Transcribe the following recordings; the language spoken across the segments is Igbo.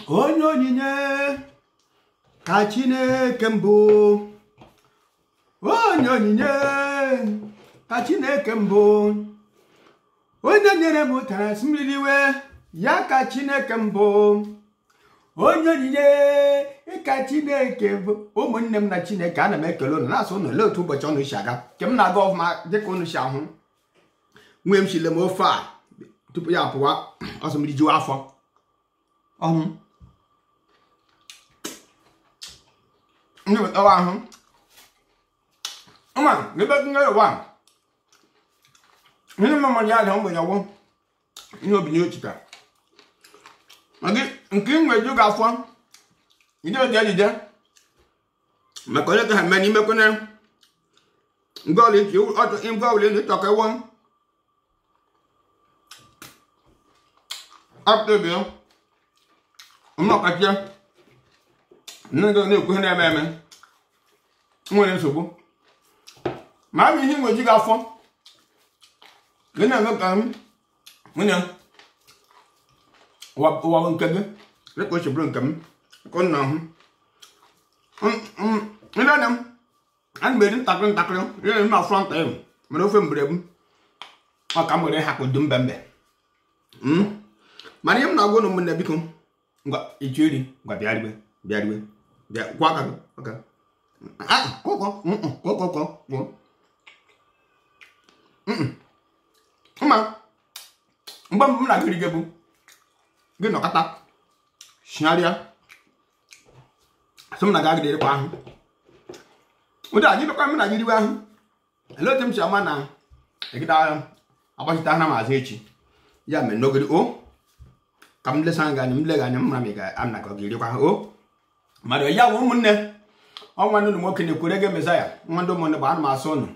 onye onyinye ka chineke m bụ onye onyinye ka chineke m bụ onye nyere m ụtara sị m riwe ya ka chineke m bụ onye onyinye ka chineke bụ ụmụnne m na chineke ana m ekele ụnụ na-asụ ụnụ olee otu ụbọchị ụnụ si aga nke m na-aga ọfụma dịka ụnụ si ahụ nwee m chile m ofe a tupu ya pụwa ọsọ mmiri jiwa afọ ọhụ ndị wetawa ahụ ụma ebe nne ụwa ndị mmadụ ya dị mgbe ya gwụ ihe obinye ochita nke ị nwere ju gị afọ ije oji ejije maka onye ka ha mee n'ime kwene nke ọla iche ọtụ nke ọbụla ịnụ ịchọ ka ịwọ apụta obi ya ọmụ ọkachie nne gị na-ekwu ihe na-eme eme nwere nsogbu ma ọ bụ ihe nwe ju gị afọ gị na-eme ka m nwunye ụwa ụwa bụ nke gị dịka o si bụrụ nke m ka ọ na-ahụ ndị anya m ana m eri ntakịrị ntakịrị ihe na-eme afọ nta ya mere ofe mgbere m ọ ka m were hapụ dum mbe mbe Mm. mana ihe m na-agwa ụnụ ụmụnne biko ngwa ị chọọ iri ngwa bịa riwe bịa riwe bịa kwọ aka gị aka ah kọkọ kọkọ kọ kwọ mma mgbe mbụ m na gị riga bụ gị nọkata shigharịa sị m na gị agaghị erikwa ihe ụdị anyị bịakwa m na gị riwe ihe ele otu m si ama na egide agha agbachite ana m azụ echi ya mere n'ogede o ka m lesa gị anya m lega anya m mara ma ị ga-ana ka ọ ga-erikwa ha o mmadụ ya bụ ụmụnne onwe ndị ụmụ nwoke na-ekwere gị mesaya nwa ndị ụmụnne bụ ana m asụ ụnụ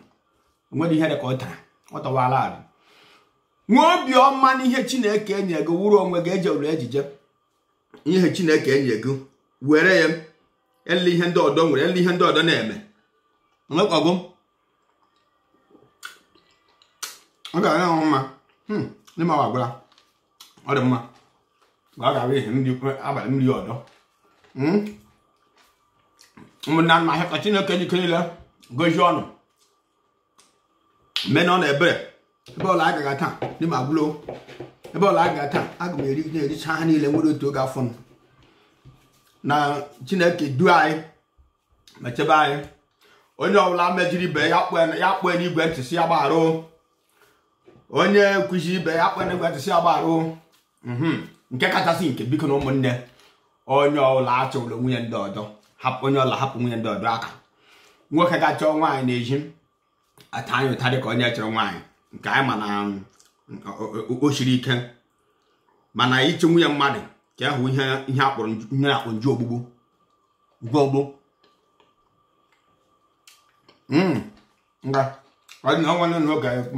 onwere ihe dị ka ụtara ọ tọwala arụ nwee obiọma n'ihe chineke enye gị wuru onwe gị eje ụlọ ejije ihe chineke enye gị were ya ele ihe ndị ọdọ nwere ele ihe ndị ọdọ na-eme nwekọgụ ọ ga-aga ahụ mma hmm, ndị ma gwara ọ dị mma ma ọ ga-abụ ihe ndị abalị mmiri ọdọ hmm? ụmụnna nna ahịa ka chineke ji ike niile gozie ụnụ mee na ọ na-ebere ebe ọla a gaga taa n'ime agwụlo ebe ọla a gaga taa aga m eri na-ericha ha niile nwere otu oge afọ m na chineke du anyị ma chebe anyị onye ọbụla mejiri ibe ya kpọọ ya kpọọ ya n'igwe ntị sị ya gbaghara o. onye kwuchiri ibe ya kpọọ ya n'igwe ntị sị ya gbaghara o. mhm. nke kachasị nke bikonụ ụmụnne onye ọla achụla nwunye ndị ọdọ onye ọla hapụ nwunye ndị ọdọ aka nwoke ga-achọ nwaanyị n'ezi ata anyị ụta dịka onye chọrọ nwaanyị nke anyị ma na o siri ike mana ịchụ nwunye mmadụ ka ahụ ihe ihe a kpọrọ ihe akpọ njọ ogbugbu njọ ogbugbu hmm. nga ọ dị na ọnwa n'oge ekwu